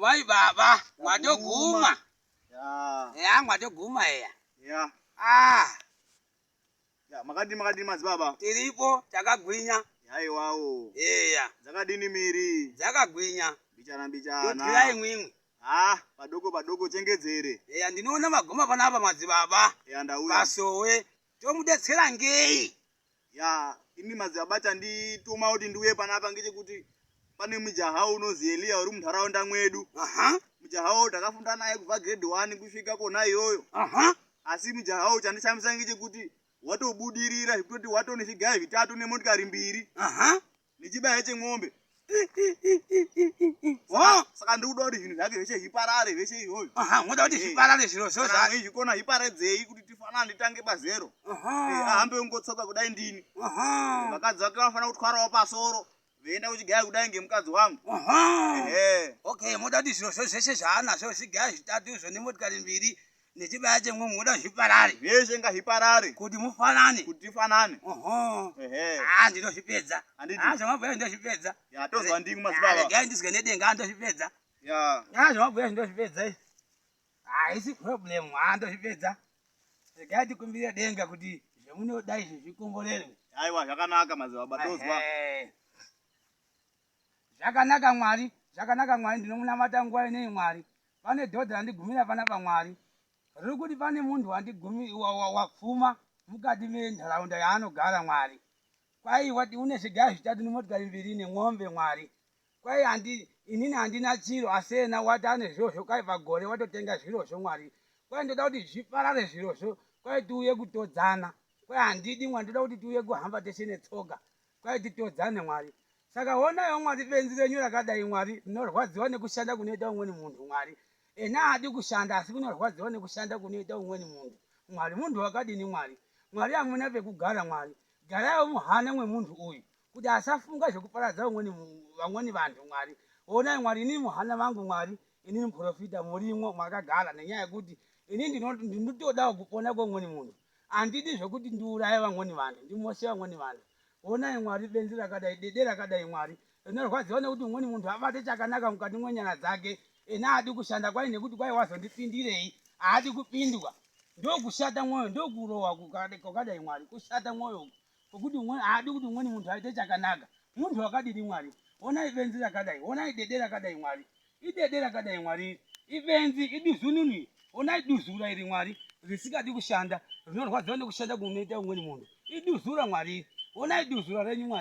Vai baba, mwatoguma. Yeah. Yeah, mwatoguma eya. Yeah. Ah. Yeah, makadini makadini madzibaba? Tiripo takagwinya. Haiwawo. Eya. Dzakadini miri? Dzakagwinya. Mbichana mbichana. Todyira imwimwi. Ah, padoko padoko chengedzere. Eya, ndinoona magoma panapa madzibaba. Eya, ndauya. Pasowe tomudetsera ngei? Yaa imi madzibaba chandituma kuti ndiuye panapa ngechekuti pane mujaha unozi Elia uri munharaunda mwedu. Aha. Mujaha uyu takafunda naye kubva grade 1 kusvika kona iyoyo. Aha. Asi mujaha uyu chandishamisa ngechekuti watobudirira zvekutoti watone zvigaya zvitatu nemotikari mbiri. Aha. nechibaya chemwombe saka ndikuda kuti zvinhu zvake zveshe zviparare zveshe izvozvo moda kuti zviparare zviro zvozvikona zviparedzei kuti tifanana nditange pazero ahambe ungotsoka kudai ndini vakadzi vake vanofanira kutwarawo pasoro veienda kuchigaya kudai ngemukadzi wangu okay moda kuti zviro zvo zveshe zvaanazvo zvigaya zvitatu izvo nemotikari mbiri nechibaya chemwe munoda zviparare zveshe ngazviparare kuti mufanane kuti tifanane oho haa ndinozvipedza haa zvamabhuya ndozvipedza yatozwa ndingu mazibaba regai ndizwe nedenga ndozvipedza ya haa zvamabhuya ndozvipedza izvi haisi problem haa ndozvipedza regai tikumbire denga kuti zvemunoda izvi zvikomborerwe aiwa zvakanaka mazibaba tozwa Zvakanaka Mwari, zvakanaka Mwari ndinomunamata nguva inei Mwari. Pane dhodhi randigumira panapa Mwari. Riri kuti pane munhu wandigumi, wa, wa, wapfuma mukati menharaunda yaanogara Mwari. Kwai wati une zvigaya zvitatu nemotikari mbiri nemwombe Mwari. Kwai handi, inini handina chiro asi ena wati ane zvirozvo kwai pagore watotenga zvirozvo Mwari. Kwai ndoda kuti zviparare zvirozvo kwai tiuye kutodzana. Kwai handidi Mwari ndoda kuti tiuye kuhamba tese netsoka. kwaiti todzane mwari saka honayo mwari benzi renyu rakadai mwari rinorwadziwa nekushanda kunoita umweni munhu mwari ena haadi kushanda asi kunorwadziwa nekushanda kunoita umweni munhu mwari munhu wakadini mwari mwari hamuna pekugara mwari garayo muhana mwemunhu uyu kuti asafunga zvekuparadza umweni vamweni vanhu mwari honai mwari inini muhana vangu mwari inini muprofita murimwo mwakagara nenyaya yekuti ini ndinotodawo kupona kweumweni munhu Handidi zvekuti ndiuraye vamweni vanhu, ndimoshe vamweni vanhu. Honai Mwari, benzi rakadai, dede rakadai Mwari. Rinorwadziwa nekuti mumweni munhu abate chakanaka mukati mwenyara dzake ena haadi kushanda kwai nekuti kwai wazondipindirei, haadi kupindwa. Ndokushata mwoyo, ndokurohwa kwakadai Mwari, kushata mwoyo uku. Kuti umwe haadi kuti umweni munhu aite chakanaka. Munhu wakadini Mwari? Honai benzi rakadai, honai dede rakadai Mwari. Idede rakadai Mwari. Ibenzi, iduzununu. Honai duzura iri Mwari. Risikadi kushanda, rinorwadziwa nekushanda kunoita umweni munhu. Iduzura Mwari. Honai duzura renyu Mwari.